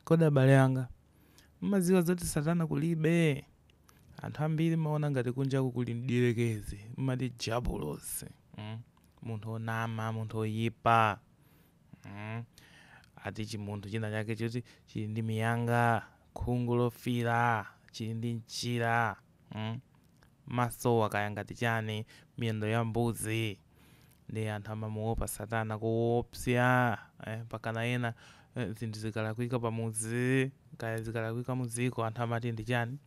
Kodi abale anga, mumadziwa zoti Satana kulibe? Anthu ambiri mumaona ngati kunjaku kuli mdierekezi, mumati dyabulosi, mm, munthu wonama, munthu woyipa, mm, ati chimunthu china chake choti chili ndi miyanga, khungu lofiira, chili ndi mchira. mm? masowo kaya ngati chani miyendo ya mbuzi nde anthu amamuopa satana koopsya eh, pakana ena eh, zinthu zikalakwika pamuzi kaya zikalakwika muziko anthu amati ndi chani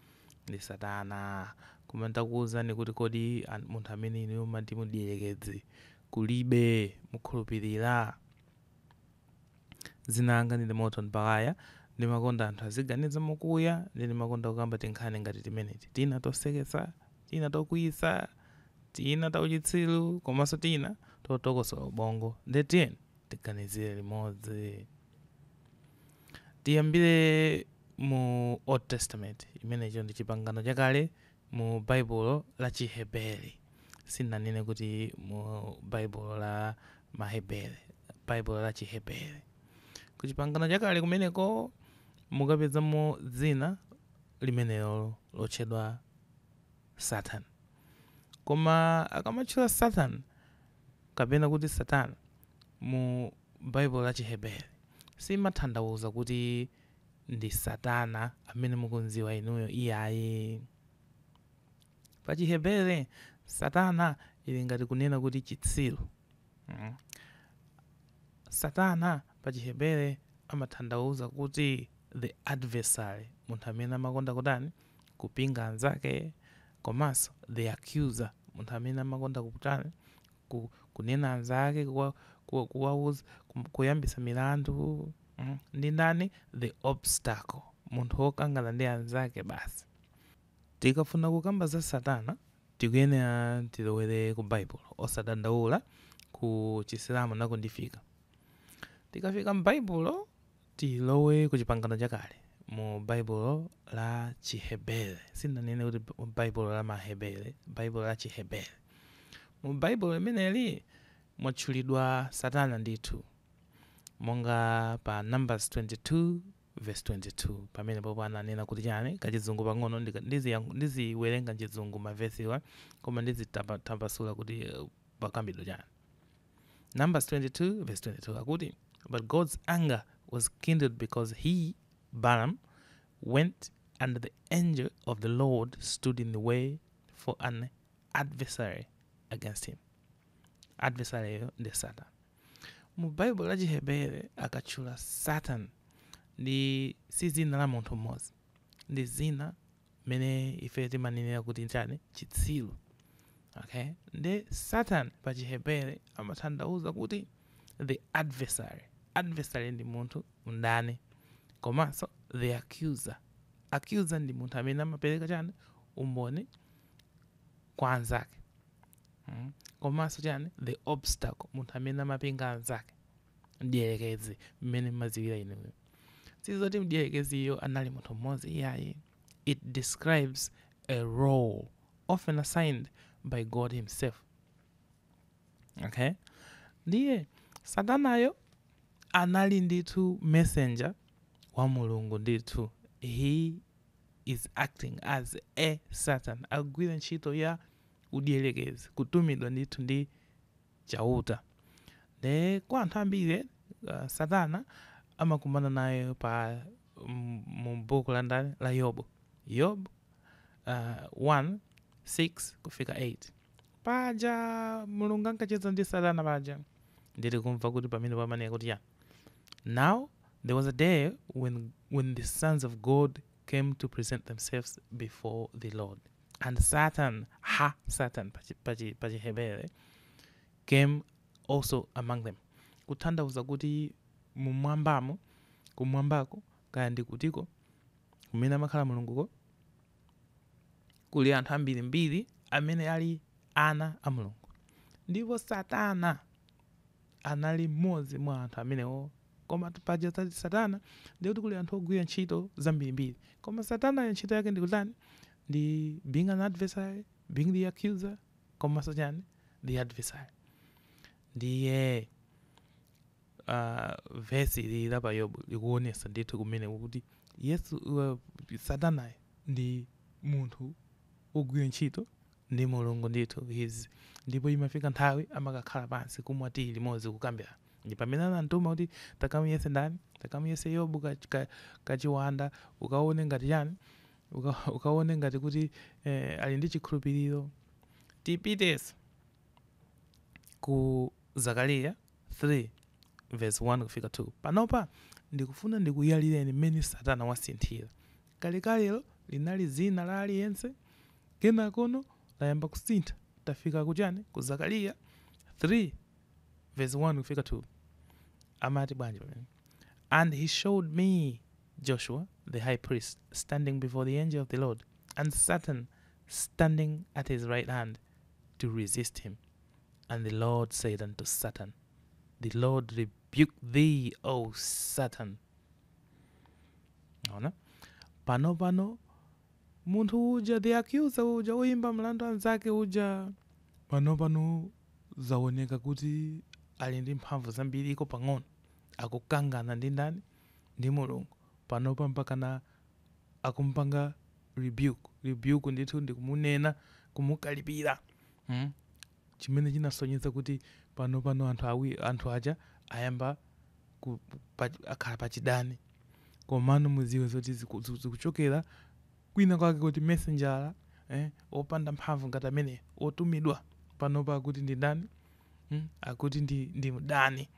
ndi satana koma ntakuwuzani kuti kodi an- munthu amene inu mumati mdierekezi kulibe mukhulupirira Dzina langa ndine Morton Bakaya. Ndimakonda anthu aziganiza mokuya, nde ndimakonda kukamba tinkhani ngati timeneti. Tina toseketsa, tina tokwiyitsa, tina tauchitsiru, komanso tina totokosola ubongo. Nde tiyeni tiganizire limodzi. Tiyambire mu Old Testament, imenecho ndi Chipangano Chakale mu Baibulo la Chihebere. Sindinanene kuti mu Baibulo la Mahebere, Baibulo la Chihebere. Ku Chipangano Chakale kumeneko mukapezamo dzina limenelo lotchedwa Satan. Koma akamatchula Satan kapena kuti Satana mu Baibulo la Chihebere simatanthauza kuti ndi Satana amene mukumdziwa inuyo iyayi. Pa Chihebere, Satana ili ngati kunena kuti chitsiru. Mm. Satana pa Chihebere amatanthauza kuti the adversary, munthu amene amakonda kutani kupinga anzake, komanso the accuser, munthu amene amakonda kutani ku, kunena anzake, kuwa, kuwa, kuwauza, kum- kuyambisa milandu mm. ndi ndani the obstacle munthu wokangana ndi anzake basi tikafuna kukamba za satana tikuyenera tilowere ku baibulo osadandaula ku chisilamu nako ndifika tikafika m'baibulo Tilowe ku Chipangano Chakale, mu Baibulo la Chihebere. Sindinanene kuti Baibulo la Mahebere, Baibulo la Chihebere. Mu Baibulo limeneli mwatchulidwa Satana ndithu, monga pa Numbers 22 verse 22. Pamene popo ananena kuti chani, kachizungu pang'ono, ndiziwerenga mchizungu mavesiwa, koma ndizitambasula kuti pakukambidwa chani. Numbers 22 verse 22 akuti, But God's anger was kindled because he, Balaam, went and the angel of the Lord stood in the way for an adversary against him. Adversaryyo ndi Satan. Mu Baibulo la Chihebere akatchula Satan ndi si dzina la munthu mmodzi, ndi dzina mmene ife timanenera kuti chani chitsiru okay nde satan pa chihebere amatanthauza kuti the adversary adversary ndi munthu mndani komanso the accuser accuser ndi munthu amene amapereka chani umboni kwa anzake mm. komanso chani the obstacle munthu amene amapinga anzake mdierekezi, mmene mmadziwira inu. Sili zoti mdierekeziyo anali munthu mmodzi iyayi. It describes a role often assigned by God himself. Okay? Ndiye Satanayo anali ndithu messenger wa Mulungu ndithu. He is acting as a Satan. Agwira ntchito ya udierekezi kutumidwa ndithu ndi Chauta. Ndiye kwa anthu ambiri Satana amakumana naye pa mu buku la ndani la Yobu. Yobu 1 6 kufika 8 paja Mulungu ankacheza ndi Satana paja ndili kumva kuti pamenepo amanena kuti chani Now there was a day when the sons of God came to present themselves before the Lord. And Satan, ha-Satan, pachihebere, came also among them. Kutanthauza kuti mumwambamo, kumwambako, kaya ndi kutiko, kumene amakhala mulunguko, kuli anthu ambirimbiri amene ali ana a mulungu. Ndipo Satana anali mmodzi mwa anthu amenewo Komatu paja tati satana ndiye kuti kuli anthu ogwira ntchito zambirimbiri. Koma satanayo ntchito yake ndi kutani? Ndi being an adversary, being the accuser komanso chani? The adversary. Ndiye ah, vesi ili ya pa Yobu likuonesa ndithu kumeneko kuti Yesu uh, satanayo ndi munthu wogwira ntchito ndi Mulungu ndithu his ndipo imafika nthawi amakakhala pansi kumwa tiyi limodzi kukambirana ndi pamene anamtuma kuti takamuyese ndani takamuyese yobu ka, ka, kachiwanda ukaone ngati chani uka, ukaone ngati kuti eh, ali ndi chikhulupiriro tipitenso ku zakariya 3 verse 1 kufika 2 panopa ndikufuna ndikuyalireni mmene satana wasinthira Kalekalelo linali dzina la aliyense, kenakono layamba kusintha tafika ku chani? Ku Zakariya 3 vesi 1 kufika 2. Amati bwanji pamenepa? And he showed me Joshua the high priest standing before the angel of the Lord, and Satan standing at his right hand to resist him. And the Lord said unto Satan, The Lord rebuke thee, O Satan. Ona? Pano pano munthu uja the accuser uja woyimba mlandu anzake uja pano pano zaoneka kuti ali ndi mphamvu zambiri iko pang'ono akukangana ndi ndani ndi mulungu panopa mpakana akumpanga rebuke rebuke ndithu ndikumunena kumukalipira hmm? chimene chinasonyeza kuti pano pano anthu awi anthu aja ayamba ku, pa, akhala pachidani komano mudziwe zoti ziku- ziku- zikuchokera kwina kwake kuti messenjera eh, wopanda mphamvu ngati amene wotumidwa panopa akuti ndi ndani hmm? akuti ndi, ndi mdani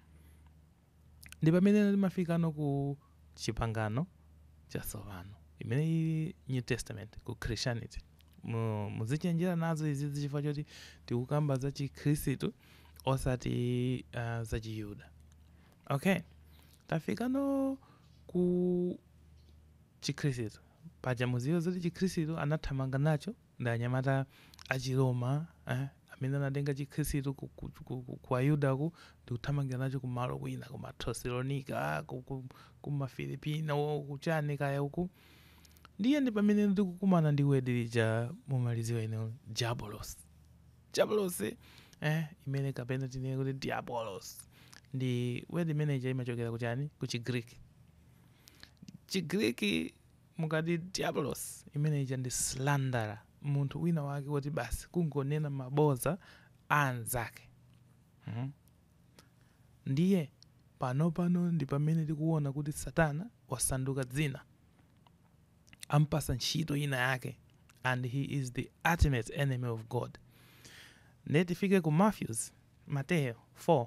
Ndi pamene timafikano ku Chipangano Chatsopano, imene ili New Testament, ku Christianity. Mu, muzichenjera nazo izizi chifukwa choti tikukamba za Chikhristu osati uh, za Chiyuda. Okay, tafikano ku Chikhristu paja mudziwe zoti Chikhristu anathamanga nacho ndi anyamata a Chiroma, eh, amene anatenga chikhristu ku, ku, ku, ku, ku Ayudaku ndi kuthamangira nacho kumalo kwina ku ma Thessalonica, ku, ku, ku Mafilipino, kuchani kayako. Ndiye ndi pamene ndikukumana ndi wedi lija mumalidziwa inuyo Diabolos. Diabolos eh, imene kapena tinene kuti Diabolos ndi wedi imene ija imachokera kuchani ku Chigriki. Chigriki Mukati Diabolos imene ija ndi slanderer, munthu winawake woti basi kungonena mabodza a anzake. Hmm. Ndiye, panopano ndi pamene tikuwona kuti Satana wasanduka dzina. Ampatsa ntchito ina yake, and he is the ultimate enemy of God. Ndiye tifike ku Matthews, Mateyu, 4,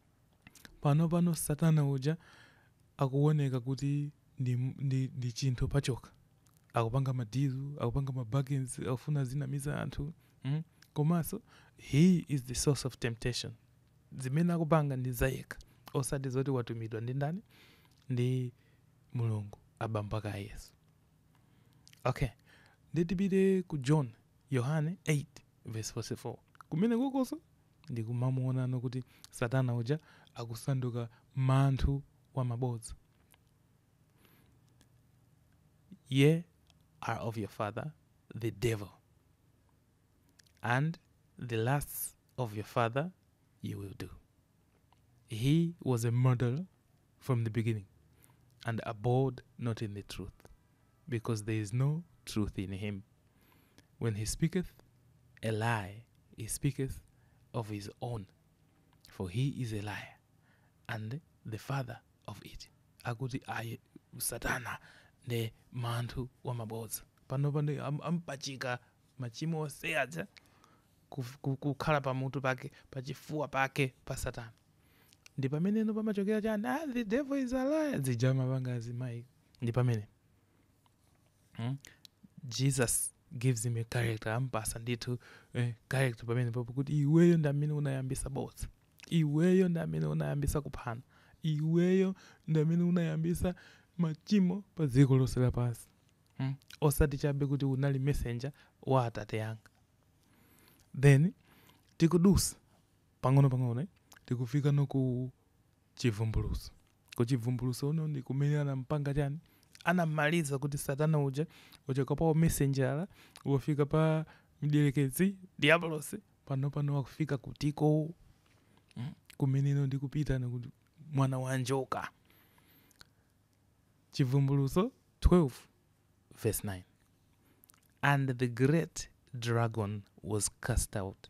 Pano pano satana uja akuoneka kuti ndi, ndi, ndi chinthu pachokha. Akupanga ma deal, akupanga ma bargains, akufuna azinamiza anthu. Mm? Komanso he is the source of temptation. Zimene akupanga ndi zayekha, osati zoti watumidwa ndi ndani? Ndi Mulungu, abambo ake a Yesu. Okay. Ndiye tipite ku John, Yohane 8 verse 44. Kumenekukonso ndikumamuonano kuti satana uja akusanduka manthu wa mabodza ye are of your father the devil and the lusts of your father you will do he was a murderer from the beginning, and abode not in the truth, because there is no truth in him. When he speaketh a lie, he speaketh of his own, for he is a liar and the father of it. Akuti a satana nde manthu wa mabodza panopano ampachika machimo onse aja kukhala pamutu pake pachifuwa pake pa satana ndipameneno pamachokera chani ah, the devil is a lie zija amapanga zima mic ndipamene hmm? jesus gives him a character ampasa ndithu eh, character pamene papo kuti iweyo ndi amene unayambisa bodza iweyo ndi amene unayambisa kuphana iweyo ndi amene unayambisa machimo pa dziko lonse lapansi hmm? osati chabe kuti unali messenger wa atate yanga then tikudusa Pang'onopang'ono tikufikano ku Chivumbulutso. Ku Chivumbulutso kuno ndi kumene anampanga chani? Anammaliza kuti Satana uja wachoka pa umesenjala wafika pa mdierekezi, diabolosi, panopano wakufika kutiko? Kumene ine ndikupitanako ku mwana wa njoka. Chivumbulutso 12 verse 9 And the great dragon was cast out,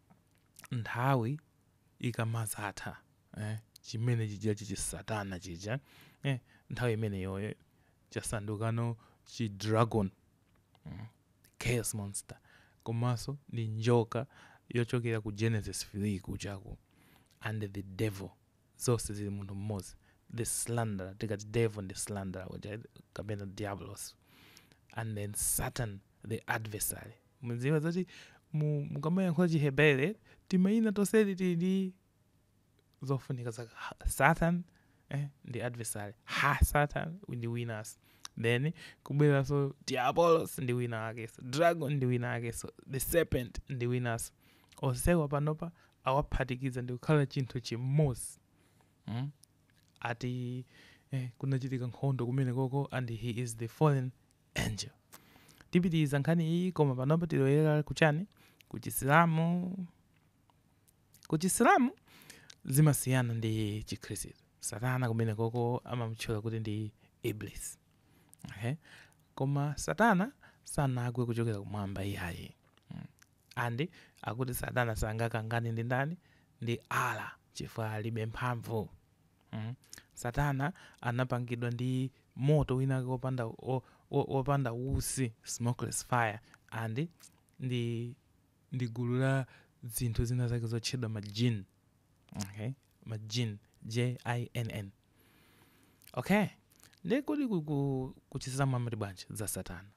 nthawi ikamadzatha, eh, chimene chija chichisatana chija, eh, nthawi imeneyo eh, chasandukano chi dragon mm, chaos monster komanso ndi njoka yochokera ku genesis 3 kujako and the devil zonse zili munthu mmodzi the slanderer tikati devil ndi slanderer uja kapena diabolos and then satan the adversary mudziwe zoti mu- mukamayankhula chihebere timayina tonseti tili ndi zofunika zake satan eh, ndi adversary ha satan ndi winanso then kubwereranso diabolos ndi wina wakenso dragon ndi wina wakenso the serpent ndi winanso Onsewa panopa awaphatikiza ndikukhala chinthu chimodzi mm? ati eh, kunachitika nkhondo kumenekoko and he is the fallen angel tipitiriza nkhani iyi koma panopa tilowera kuchani kuchisilamu kuchisilamu zimasiyana ndi chikhristu satana kumenekoko amamutchula kuti ndi iblis okay? koma satana sanagwe kuchokera kumwamba iyayi Mm. And akuti satana sangakangane ndi ndani ndi Allah chifukwa alibe mphamvu mm. satana anapangidwa ndi moto winake wopanda wo- wo- wopanda utsi smokeless fire and ndi ndi gulu la zinthu zina zake zotchedwa majin okay majin jinn okay ndi kodi ku- ku- kuchitisa mwamati bwanji za satana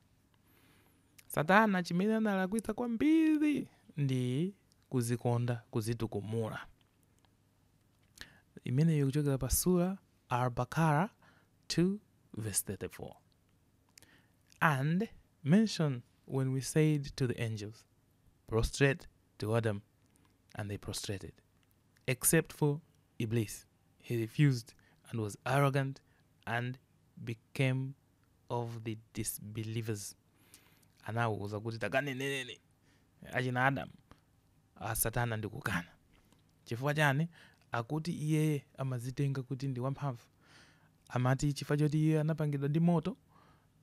Satana chimene analakwitsa kwambiri ndi kuzikonda kuzitukumula. Imeneyo ikuchokera pa Surah Al Baqara 2 vs 34. And mention when we said to the angels, prostrate to Adam and they prostrated, except for Iblis, he refused and was arrogant and became of the disbelievers anawauza kuti takagwadireni achina Adam a satana ndi kukana. Chifukwa chani? Akuti iyeye amazitenga kuti ndi wamphamvu. Amati chifukwa choti iye anapangidwa ndi moto,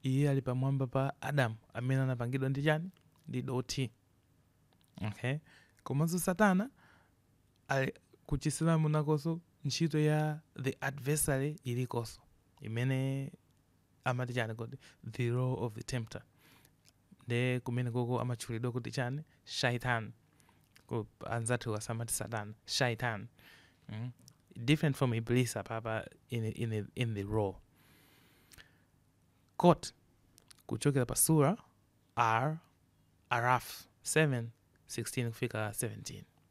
iye ali pamwamba pa Adam amene anapangidwa ndi chani? Ndi dothi. Okay? Komanso satana a. Ku Chisilamu nakonso ntchito ya the adversary ilikonso imene amati chani kodi the role of the tempter, nde kumenekoko amatchulidwa kuti chani, shaytan, ku anzathuwa samati satana, shaytan, mm different from iblis apapa in, in, in the role quote kuchokera pa surah Al-Araf 7, 16 kufika 17.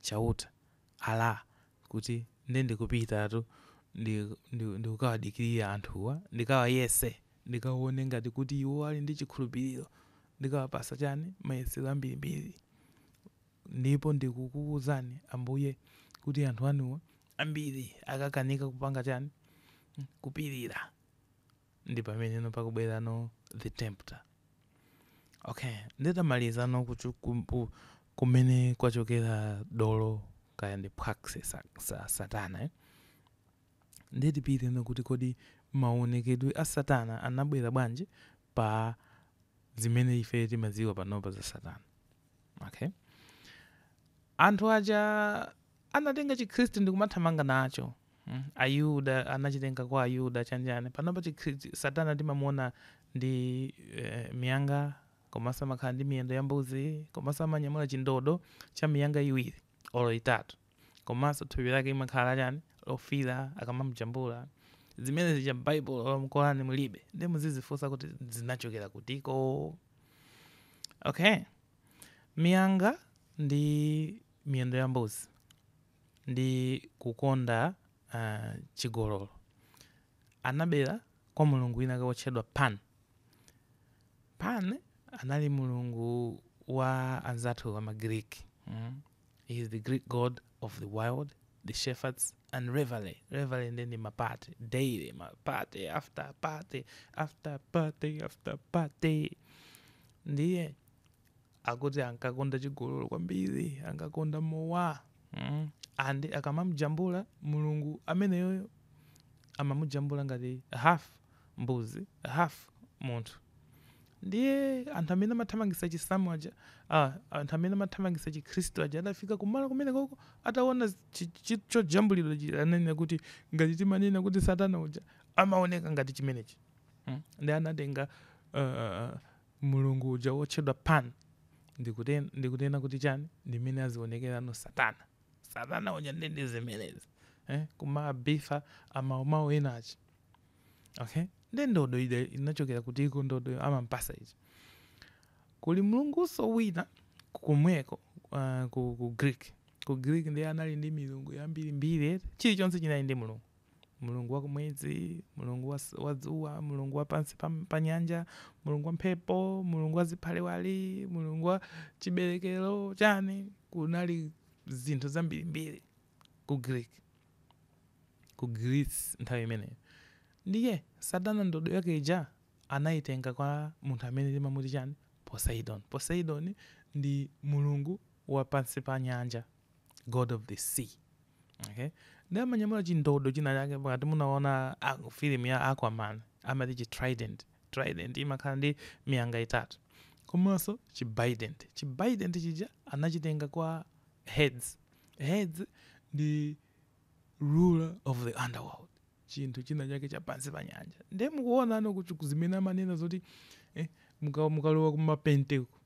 Chauta, Allah! Kuti ndiye ndikupitatu ndikukawadikirira anthuwa, ndikawayese, ndikawone ngati kuti iwo ali ndi chikhulupiliro, ndikawapatsa chani, mayesero ambirimbiri. Ndipo ndikukuuzani, Ambuye, kuti anthu anuwa ambiri akakanika kupanga chani, kupirira. ndi pameneno pakubwerano the tempter okay nditamalizano kuchu- ku- ku- kumene kwachokera dolo kaya ndi phwaksi sa, sa, satana eh? ndiye tipiteno kuti kodi maonekedwe a satana anabwera bwanji pa zimene ife timadziwa panopa za satana okay anthu aja anatenga chikhristu ndi kumathamanga nacho mm? ayuda anachitenga kwa ayuda chani chani panopa chikhristu satana timamuona ndi eh, miyanga komanso amakhala ndi miyendo ya mbuzi komanso amanyamula chindodo cha miyanga iwiri olo itatu komanso thupi lake limakhala chani lofira akamamjambula zimene zija m'baibulo olo m'korani mulibe ndi muzizifunsa kuti zinachokera kutiko okay miyanga ndi miyendo ya mbuzi ndi kukonda uh, chigololo anabera kwa mulungu wina wotchedwa pan pan anali mulungu wa anzathu wa magiriki mm? he is the greek god of the wild the shepherds and revelry revelry ndi ndi mapate daily party after party after party after party ndiye Akuti ankakonda chigololo kwambiri, ankakonda mowa. Mm. And akamamujambula mulungu ameneyoyo amamujambula ngati half mbuzi, half munthu. Ndiye anthu amene amathamangitsa chisilamu aja, ah, anthu amene amathamangitsa chikhristu aja adafika kumalo kumenekoko ataona chi- chi- chojambulidwa chija ananena kuti ngati timanena kuti satana uja amaoneka ngati chimenechi. Mm. Ndiye anatenga uh, Mulungu uja wotchedwa Pan, ndi kuti, ndi kunena kuti chani, ndi mmene azionekerano Satana. Satana uja ndiye ndi zimenezi, eh, kumaba ifa amawu amawu ena aja. Okay? Ndiye ndodo ija inachokera kutiko ndodo amampatsa ija? Kuli Mulungunso wina komweko, ah, ku, ku Greek. Ku Greek ndiye anali ndi milungu yambirimbiri eti, chilichonse chinali ndi mulungu. Mulungu wa kumwezi, Mulungu wa, wa dzuwa, Mulungu wa pansi pa, pa nyanja, Mulungu wa mphepo, Mulungu wa ziphaliwali, Mulungu wa chiberekero chani, kunali zinthu zambirimbiri ku Greek, ku Greece nthawi imeneyo. Ndiye Satana ndodo yake ija anayitenga kwa munthu amene timamuti chani Poseidon. Poseidon ndi mulungu wa pansi pa nyanja. god of the sea okay ndi amanyamula chindodo china chake ngati munaona ah, film ya aquaman amati chi trident trident imakhala ndi miyanga itatu komanso chi bident chi bident chija anachitenga kwa hades hades ndi ruler of the underworld chinthu china chake cha pansi pa nyanja ndiye mukuonano kuti zimene amanena zoti eh, muka- mukalowa kumapenteko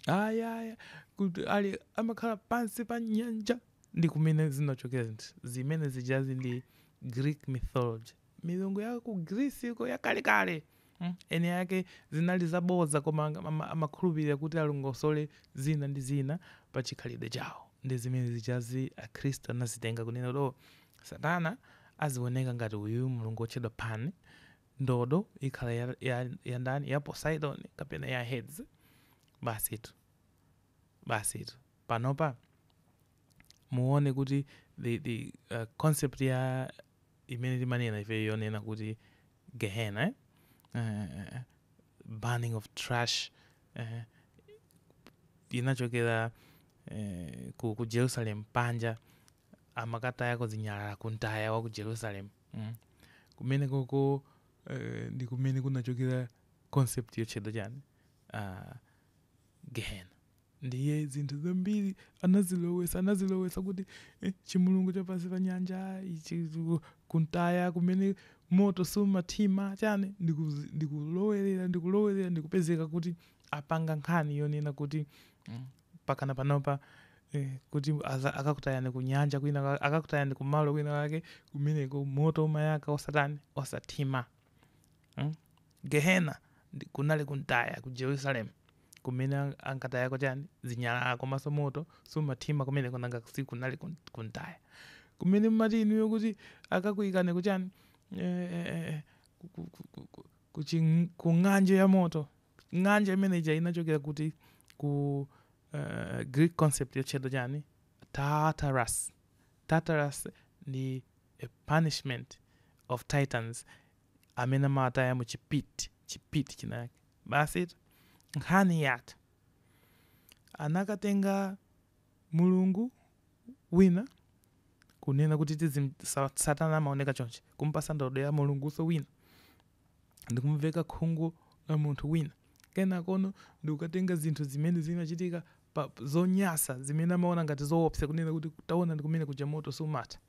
ayaya kuti ali amakhala pansi pa nyanja ndi kumene zinachokera zinthu zimene zijazi ndi greek mythology milungu ya ku greece uko yakalekale Hmm, eni ake zinali zabodza koma ang- ama- amakhulupirira kuti alongosole zina ndi zina pa chikhalidwe chawo ndi zimene zijazi akhristu anazitenga kunena kuti "Oh, satana azioneka ngati uyu mulungu wotchedwa pan ndodo ikhala ya, ya, ya ndani ya poseidon kapena ya Hades basitu basitu panopa muone kuti the, the uh, concept ya imene timanena ife yonena kuti gehena eh? uh, burning of trash uh, inachokera uh, ku, ku jerusalem panja amakatayako zinyalala kumtaya wa ku jerusalem mm. kumene koko uh, ndi kumene kunachokera concept yotchedwa chani uh, gehena Ndiye zinthu zambiri anazilowesa, anazilowesa kuti eh, chimulungu cha pansi pa nyanja ichi ku- kumtaya kumene moto sumathima chani ndikuzi- ndikulowerera ndikulowerera ndikupezeka kuti apanga nkhani yonena kuti mm, pakana panopa eh, kuti aza- akakutayani ku nyanja kwina kwa- akakutayani kumalo kwina kwake kumeneko moto umayaka osatani osathima mm? gehena ndi- kunali kumtaya ku jerusalem kumene ankatayako chani zinyalala komanso moto sumathima kumeneko nanga sikunali kumtaya kumene mmati inuyo kuti akakuikani ku chani eh, ku ng'anjo ya moto ng'anjo imene ija inachokera kuti ku uh, greek concept yotchedwa chani tartarus tartarus ndi a punishment of titans amene amataya mu chipit chipit chinayake Basi nkhani yatha anakatenga mulungu wina kunena kuti tiziti satana amaoneka chonchi kumpasa ndodo ya mulungunso wina ndikumveka khungu la munthu wina kenakono ndikukatenga zinthu zimene zimachitika pa zonyasa zimene amaona ngati zoopsa kunena kuti taonani kumene kuja moto sumatha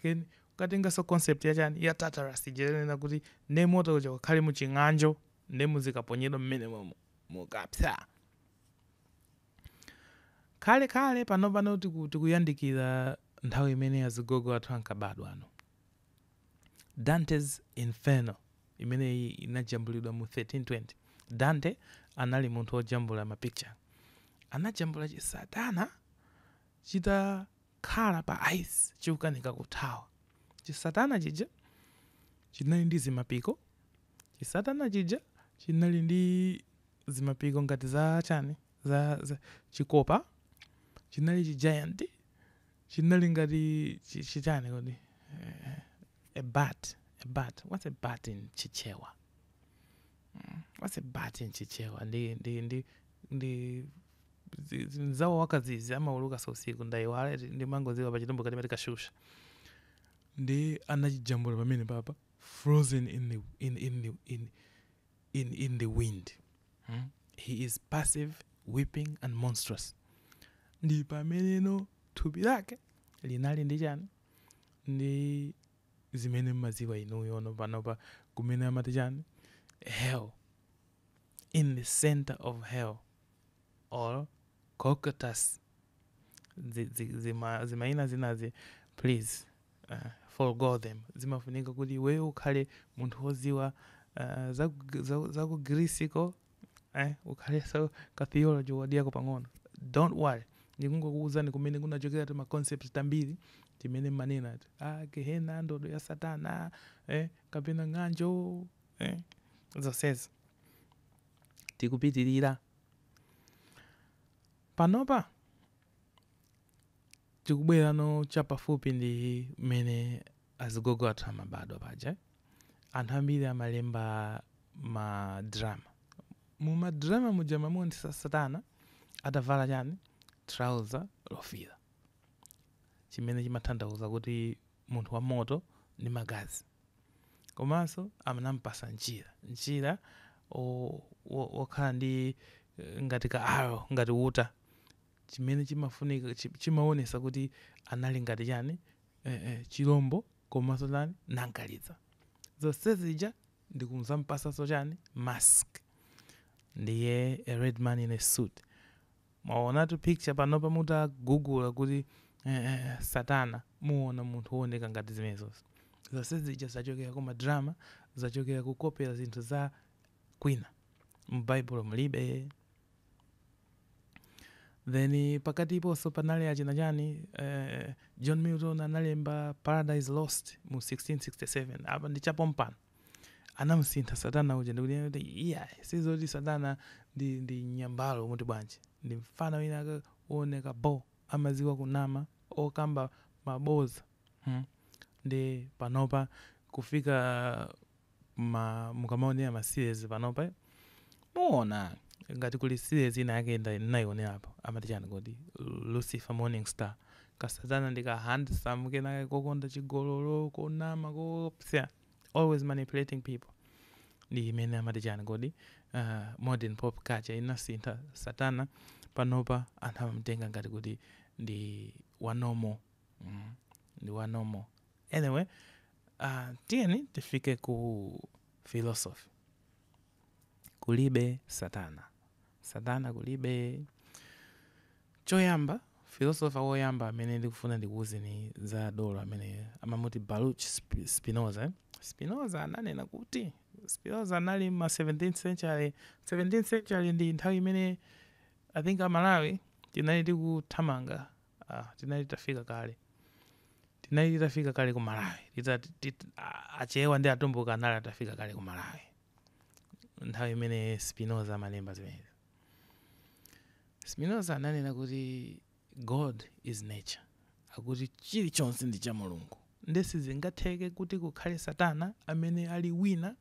Ken, nkukatenganso concept ya chani ya Tartarus ija yonena kuti nde moto uja ukhale mu ching'anjo nde muzikaponyedwa mmene momo mukapsa khale khale pano pano tiku, tikuyandikira nthawi imene azigogo athu ankabadwa ano Dante's Inferno imene inajambulidwa mu 1320 Dante anali munthu wojambula mapicture anajambula chisatana chita Chakhala pa ice chikukanika kuthawa. Chisatana chija chinali ndi zimapiko, chisatana chija chinali ndi zimapiko ngati za chani, za, za, chikopa, chinali chi giant, chinali ngati chi, chi chani kodi, a bat, a bat, what's a bat in Chichewa? What's a bat in Chichewa? Ndi, ndi, ndi, ndi. zi- zi- mzawo wa kadzidzi amaulukanso usiku ndaiwala eti ndimangoziwa pa chitumbuka timati kashusha ndi anachijambula pamene papa frozen in the, in, in, the, in, in, in the wind hmm? he is passive weeping and monstrous ndi pameneno thupi lake linali ndi chani ndi zimene mmaziwa inuyo ono panopa kumene amati chani hell in the center of hell or Cocytus zi- zi- zima- zimayina zinazi please uh, forgo them zimafunika kuti iweyo ukhale munthu woziwa uh, za, ku- za, za ku grisiko eh, ukhalenso ka theology wadiyako pang'ono don't worry ndikungokuwuzani kumene kunachokera ti maconcept tambiri timene manena ati ah, gehena ndodo ya satana eh, kapena ng'anjo eh, zonsezi tikupitirira. Panopa tikubwerano chapafupi ndi mmene azigogo athu amabadwa paja. Anthu ambiri amalemba madrama. Mu madrama muja amamuonesa Satana atavala chani? Thalauza lofiira. Chimene chimatanthauza kuti munthu wa moto ndi magazi, komanso anamupatsa mchira, mchira wokhala ndi ngati ka arrow, ngati uta, chimene chimafunika, chimaonetsa kuti anali ngati chani, chilombo komanso chani, nankalizi. Zonse zija ndi kudzamupatsanso chani, mask. Ndiye a red man in a suit. Mwaonatu picture panopa mutagugula kuti satana muona munthu ooneka ngati zimenezozo. Zonsezija zachokera kuma drama, zachokera kukopera zinthu za kwina. M'baibulo mulibe. Then pakatiponso panali achina chani, John Milton analemba Paradise Lost mu 1667. Apa ndi chapompano. Anamusintha Satana uja ndikunena kuti iyayi sizoti Satana ndi ndi nyambalo muti bwanji. Ndi mfana wina ake wooneka bho, amadziwa kunama, okamba mabodza hmm. Nde panopa kufika ma mukamaonera ma series panopa muona ngati kuli series inayake nda nayionerapo amati chani kodi Lucifer Morning Star. Ka Satana ndi ka handsome kena kokonda chigololo, konama koopsa. always manipulating people ndi imene amati chani kodi uh, modern pop culture inasintha satana panopa anthu amamtenga ngati kuti ndi wanomo mm, ndi wanomo anyway uh, tiyeni tifike ku philosophy kulibe satana satana kulibe Choyamba, Filosofa woyamba amene ndikufuna ndikuuzeni za dolo ameneyu amamuti Baruch Spinoza. Spinoza ananena kuti Spinoza anali m'ma 17th century, 17th century ndi nthawi imene I think a Malawi tinali tikuthamanga, ah, tinali titafika kale, tinali titafika kale ku Malawi, tita, tit, Achewa ndi Atumbuka anali atafika kale ku Malawi nthawi imene Spinoza amalemba zimenezi. Spinoza ananena kuti God is nature, akuti chilichonse ndi cha Mulungu, nde sizingatheke kuti kukhale Satana amene ali wina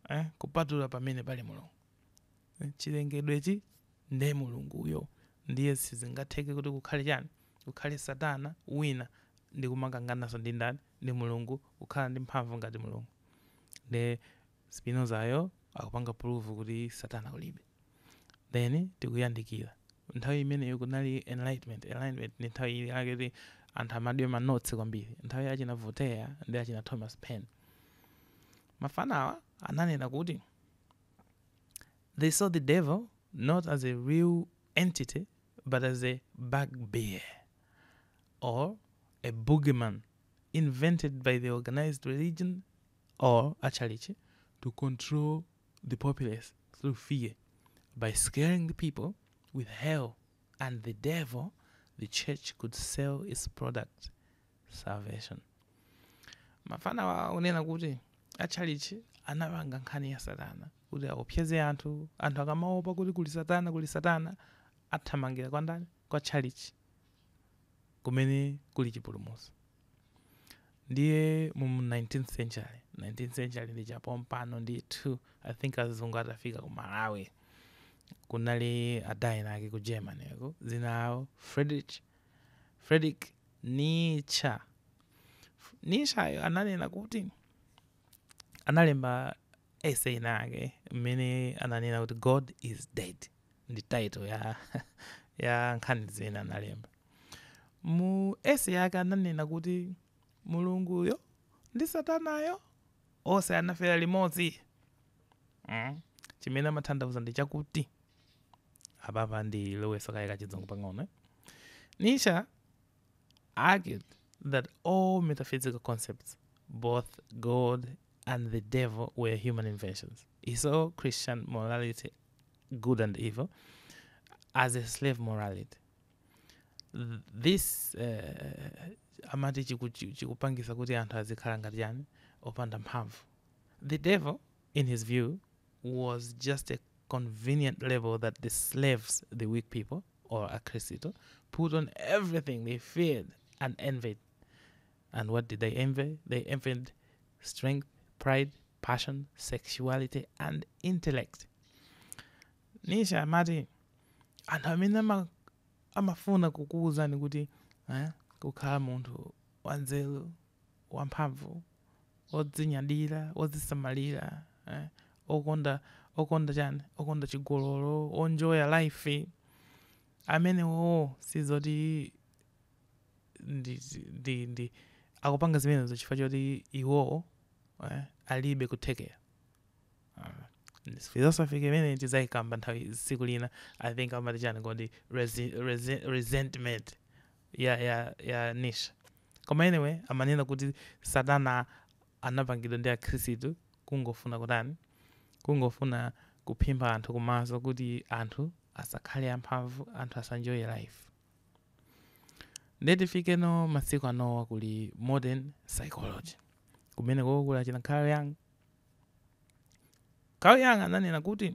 eh, kupatula pamene pali Mulungu. Eh, Chilengedwechi nde Mulunguyo, ndiye sizingatheke kuti kukhale chani, kukhale Satana wina ndi kumakangananso ndi ndani, ndi Mulungu, kukhala ndi mphamvu ngati Mulungu. Nde Spinozayo akupanga prove kuti satana kulibe. Then tikuyandikira. Nthawi imeneyo kunali enlightenment, enlightenment ndi nthawi ina yake kuti anthu amadya ma notes kwambiri. Nthawi ya achina Voltaire ndi achina Thomas Paine. Mafana awa ananena kuti they saw the devil not as a real entity but as a bugbear or a boogeyman invented by the organized religion or a tchalitchi to control the populace through fear by scaring the people with hell and the devil the church could sell its product salvation mafanawa akunena kuti atchalitchi anapanga nkhani ya satana kuti aopseze anthu anthu akamaopa kuti kuli satana kuli satana athamangira kwa ndani kwa atchalitchi kumene kuli chipulumutso ndiye mu 19th century 19th century ndi chapompano ndithu i think azungu atafika ku malawi kunali ada ena ake ku germanyko dzina lawo frederick frederick nietzsche nietzsche ananena kuti analemba essay inayake mmene ananena kuti god is dead ndi title ya ya nkhani zimene analemba mu essay yake ananena kuti mulunguyo ndi satanayo onse anafera limodzi mm. chimene amathandauza ndi chakuti apapa ndilowetsa kaye kachizungu pang'ono eh? Nietzsche argued that all metaphysical concepts, both God and the devil, were human inventions. He saw Christian morality, good and evil, as a slave morality. This uh, amati chiku- chi- chikupangisa kuti anthu azikhala ngati yani opanda mphamvu. The devil, in his view, was just a convenient label that the slaves, the weak people, wa Akhristu, put on everything they feared and envied. And what did they envy? They envied strength, pride, passion, sexuality, and intellect. Nietzsche amati anthu amene ama- amafuna kukuwuzani kuti eh, kukhala munthu wanzeru wamphamvu, wodzinyadira, wodzisamalira, eh, okonda okonda chani okonda chigololo onjoya life amenewowo sizoti ndi, ndi, akupanga zimenezo chifukwa choti iwowo eh, alibe kuthekera ah, philosophy imene tidzayikamba nthawi tsiku lina i think amati chani kodi resentment ya ya ya Nietzsche koma anyway amanena kuti satana anapangidwa ndi akhristu kungofuna kutani kungofuna kuphimba anthu kumaso kuti anthu asakhale amphamvu anthu asaenjoye life nde tifike no masiku anowa kuli modern psychology kumene koko kuli a Carl Carl Jung Carl Jung ananena kuti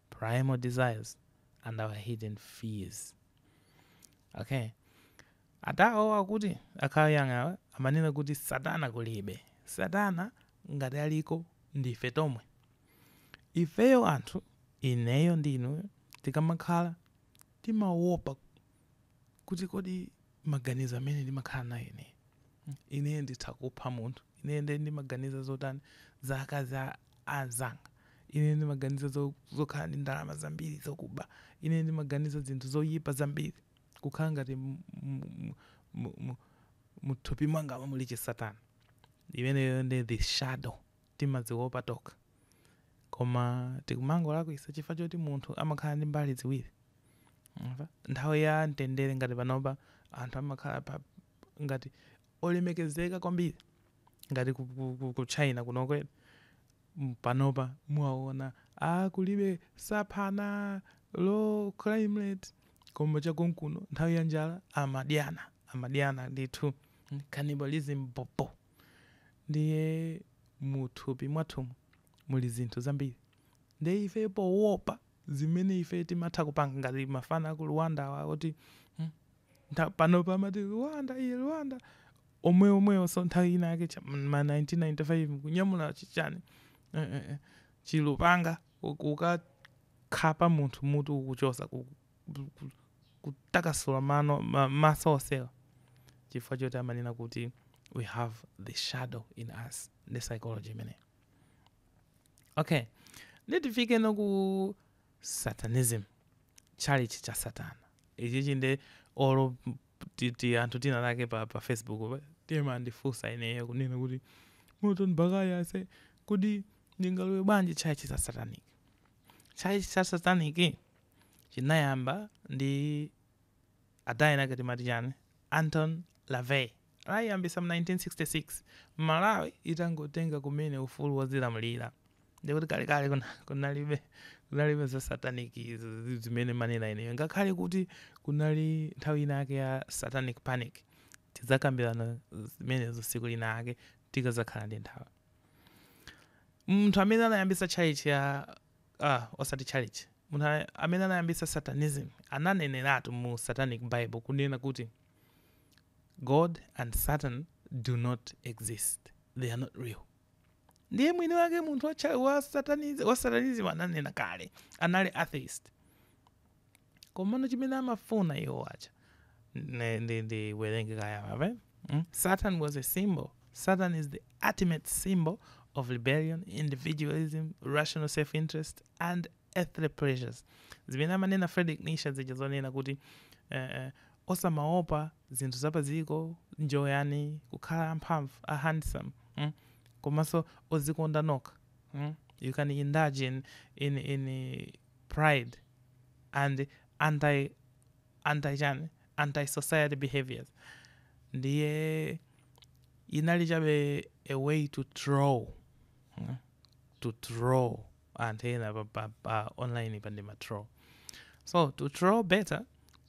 primal desires and our hidden fears okay atawowa akuti a Carl Jung-wa amanena kuti satana kulibe satana ngati aliko ndife tomwe ifeyo anthu ineyo ndi inuyo tikamakhala timawopa kuti kodi maganizo amene ndimakhala nawo ine ine nditha kupha munthu ine nde ndimaganiza zotani za akazi a anzanga ine ndimaganiza zo- zokhala ndi ndalama zambiri zokuba ine ndimaganiza zinthu zoyipa zambiri kukhala ngati m- m- m- m- mthupi mwanga muli chisatana imeneyo ndi the shadow timaziopa tokha koma tikumangolakwisa chifukwa choti munthu amakhala ndi mbali ziwiri Mwamva? Nthawi ya mtendere ngati panopa anthu amakhala ngati olemekezeka kwambiri ngati ku, ku, ku, ku China kuno kumene M- panopa muwaona a kulibe saphana low crime rate koma cha konkuno nthawi ya njala amadyana amadyana ndithu Mm, cannibalism bobo ndiye muthupi mwathumu muli zinthu zambiri ndiye ife poopa zimene ife timatha kupanga, ngati amafana aku Rwanda awa oti, hmm, ntha, panopa amati Rwanda iye, Rwanda, omwe omwewonso nthawi ina yake cha m'ma 1995 kunyamula chi chani, eh, eh, eh, chilupanga ku- kukakhapa munthu mutu kukuchotsa ku, ku, ku, kutakasula mano, ma, maso onsewa chifukwa choti amanena kuti we have the shadow in us, ndi psychology imeneyo. okay ndiye tifikeno ku satanism chalichi cha satana ichichi nde olo ti- ti- anthu tsiku linalake pa, pa facebook pa- amandifunsa ineyo kunena kuti Moton Baghaya ase kuti ndingalowe bwanji chalichi cha satanic chalichi cha satanic chinayamba ndi adani ake timati chani? Anton LaVey anayiyambisa mu 1966 Malawi itangotenga kumene ufulu wozilamulira ndekuti kalekale kunalibe kunalibe za satanic izi zimene mumanena inuyo ngakhale kuti kunali nthawi ina yake ya satanic panic tidzakambirana zimenezo siku lina yake tikazakhala ndi nthawi munthu amene anayambisa tchalitchi ya ah, osati tchalitchi munthu a- amene anayambisa satanism ananeneratu mu satanic bible kunena kuti god and satan do not exist they are not real ndiye mwini wake munthu wa, cha- wa, satanism, wa satanism ananena kale anali atheist komano chimene amafuna iwo acha ne- ndi ndiwerenge kaye apa mm? satan was a symbol satan is the ultimate symbol of rebellion individualism rational self interest and earthly pleasures zimene amanena Friedrich Nietzsche zija zonena kuti eh, eh, osamaopa zinthu zapadziko njoyani kukhala amphamvu a handsome mm? komanso ozikonda nokha mm? you can indulge in, in, in eh, pride and anti anti chani anti society behaviours ndiye yinali chabe a way to troll mm, to troll anthu ena pa, pa, pa online pa ndi ma troll so to troll better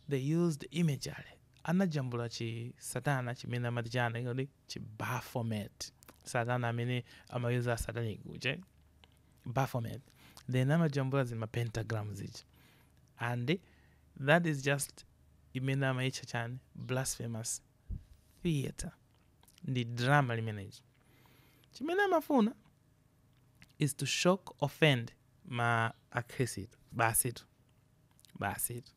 they used imagery anajambula chi satana chimene amati chani kodi chi baphomet satana amene amayuza asatanic uje Baphomet then amajambula zi ma pentagram zija and that is just imene amaitcha chani blasphemous theater ndi drama limenelija chimene amafuna is to shock offend ma akhrisitu basitu basitu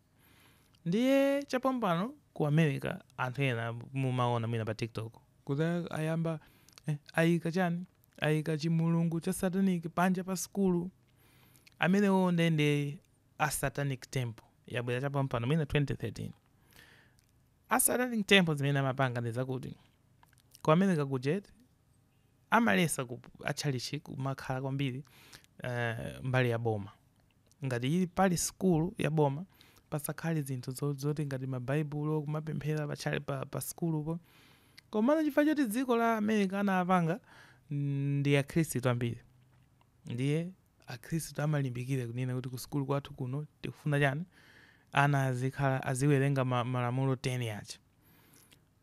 ndiye chapompano ku america anthu ena mumaona mwina pa tiktok kuti ayamba eh, ayika chani Aika chimulungu cha satanic panja pa sukulu amenewo, nde ndi a satanic temple yabwera chapampano mwina 2013 a satanic temple zimene amapanga ndi zakuti ku america kuja eti amaletsa kuti tchalitchi kumakhala kwambiri eh, mbali ya boma Ngati ili pali school ya boma pasakhale zinthu zoti ngati ma baibulo kumapemphera pa tchalitchi pa school po. Komano chifukwa choti dziko la America anapanga ndi akhristu ambiri ndiye akhristu amalimbikira kunena kuti ku school kwathu kuno tikufuna chani ana azikhala aziwerenga malamulo 10 aja.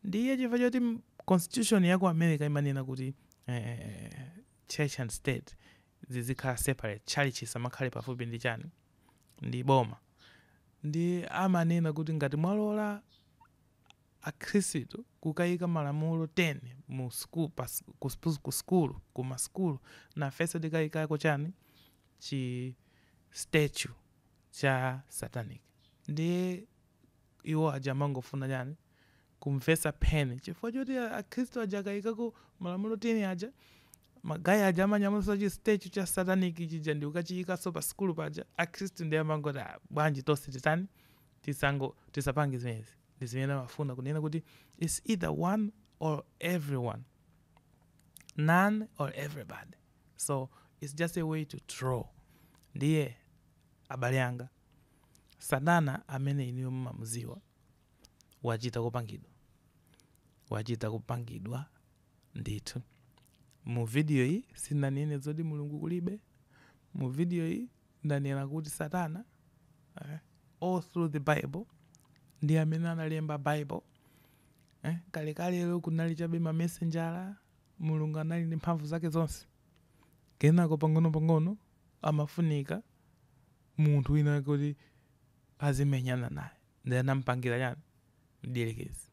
Ndiye chifukwa choti constitution ya ku America imanena kuti church and state zizikhala separate tchalitchi chisamakhale pafupi ndi chani ndi boma ndiye amanena kuti ngati mwalola akhrisitu kukaika malamulo 10 mu, ku school ku ma school nafenso tikaikako chani chi statue cha satanic ndiye Iwo aja amangofuna chani? Kumvetsa pain chifukwa choti akhristu aja akayikako malamulo 10 aja, ma guy aja amanyamulaso chi statue cha satanic chija ndikukachiyikaso pa sukulu paja, akhristu ndiye amangoti ah bwanji tonse titani, tisango, tisapange zimenezi. Ndizimene amafuna kunena kuti it's either one or everyone, none or everybody, so it's just a way to troll. Ndiye abale anga. Satana amene inuyo mumamudziwa wachita kupangidwa, wachita kupangidwa ndithu. Mu video iyi sindanene zoti Mulungu kulibe. Mu video iyi ndanena kuti Satana eh, all through the Bible ndi amene analemba Bible eh, kalekalelo kunali chabe mamesenjala Mulungu anali ndi mphamvu zake zonse, kenako pang'onopang'ono amafunika munthu wina wake oti azimenyana naye ndiye anamupangira chani mdierekezi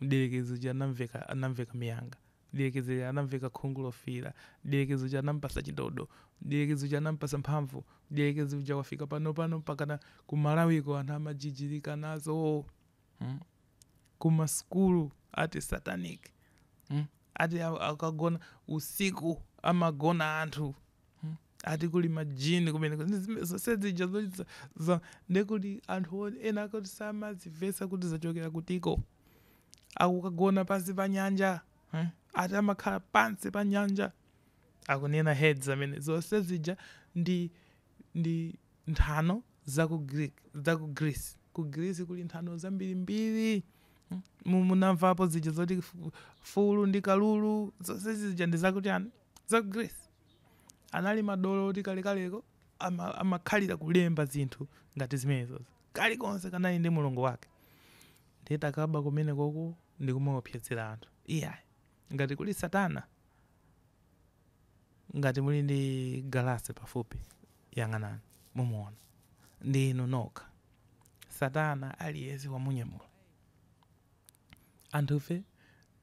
mdierekezi uja anamveka anamveka minyanga mdierekezi uja anamveka khungu lofiira mdierekezi uja anampatsa chidodo mdierekezi uja anampatsa mphamvu mdierekezi uja wafika pano pano mpakana ku Malawi kuno anthu amajijirika nazo mm? kuma sukulu ati satanic mm? ati a- akagona usiku amagona anthu mm? ati kuli majini kumene kuti zime- zonse zija zo- za- za- ndekuti anthu o- ena akuti samazimvetsa kuti zachokera kutiko akukagona pansi pa nyanja eh? ati amakhala pansi pa nyanja akunena Hades amene zonse zija ndi ndi nthano za ku Greek, za ku Greece. Ku Greece kuli nthano zambirimbiri. Hmm? Mu- Munamvapo zija zoti fu- fulu ndi kalulu zonse zija ndi zakuti ani? Za ku Greece. Anali madolo ati kalekaleko ama- amakhalira kulemba zinthu ngati zimenezozo. Kalikonse kanali ndi mulungu wake. Ndiye takaba kumene koko ndi kumaopsezera anthu. Iyayi. Ngati kuli Satana Ngati muli ndi galasi pafupi, yang'anani, mumuwona. Ndi inu nokha. Satana, aliyense wamunyamula. Anthufe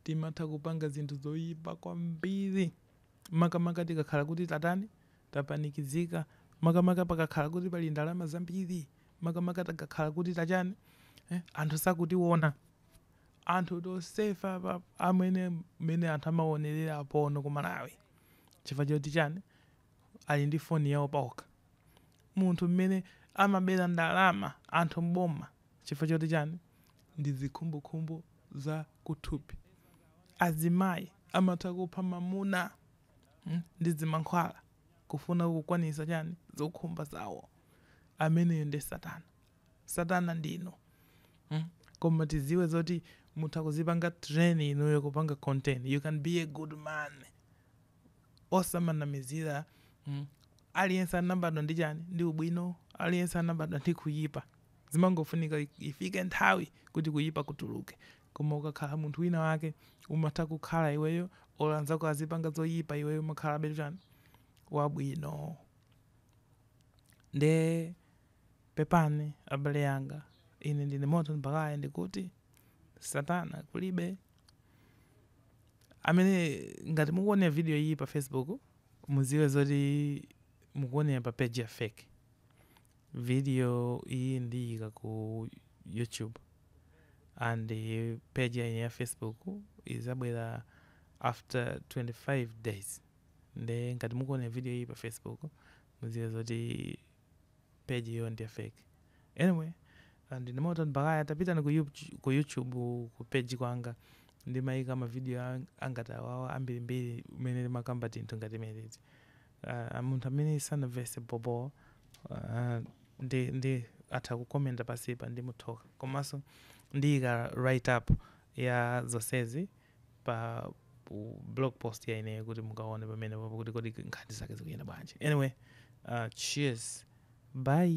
timatha kupanga zinthu zoyipa kwambiri, makamaka tikakhala kuti tatani, tapanikizika, makamaka pakakhala kuti pali ndalama zambiri, makamaka takakhala kuti ta chani, anthu sakutiwona. Anthu tonsefe apa amwene mmene anthu amaonerera porno ku Malawi chifukwa choti chani ali ndi phone yawo paokha. Munthu mmene amabera ndalama anthu m'boma chifukwa choti chani ndi zikhumbokhumbo za kuthupi. Azimayi amatha kupha mamuna ndi zimankhwala kufuna kukwanisa chani zokhumba zawo. Ameneyo nde satana. satana ndinu mm. koma tiziwe zoti mutha kuzipanga train inuyo kupanga control you can be a good man osamanamizira mm. aliyense anabadwa ndi chani ndi ubwino aliyense anabadwa ndi kuyipa zimangofunika ifike nthawi kuti kuyipa kutuluke koma ukakhala munthu wina wake umatha kukhala iweyo olo anzako azipanga zoyipa iweyo umakhalabe chani wabwino nde Pepani, abale anga, ine ndine Morton Bakaya ndikuti, satana kulibe. Amwene ngati mukuonera video iyi pa Facebook muziwe zoti mukuonera pa page ya fake. Video iyi ndiyika ku YouTube and page ya ine ya Facebook izabwera after 25 days. Nde ngati mukuonera video iyi pa Facebook muziwe zoti page iyo ndi ya fake anyway ah, ndine Morton Bakaya tapitani ku, Youtube- ku youtube ku page kwanga ndimayika mavidiyo ang- angati awawo ambirimbiri mmene ndimakamba tinthu ngati zimenezi uh, munthu amene sanavese bobo uh, ndi, ndi atha kukomenta pansipa ndimutokotsa komanso ndiyika write up ya zonsezi pa pu- blog post ya ineyo kuti mukaone pamene papo kuti kodi nkhani zake zikuyenda bwanji anyway uh, cheers bye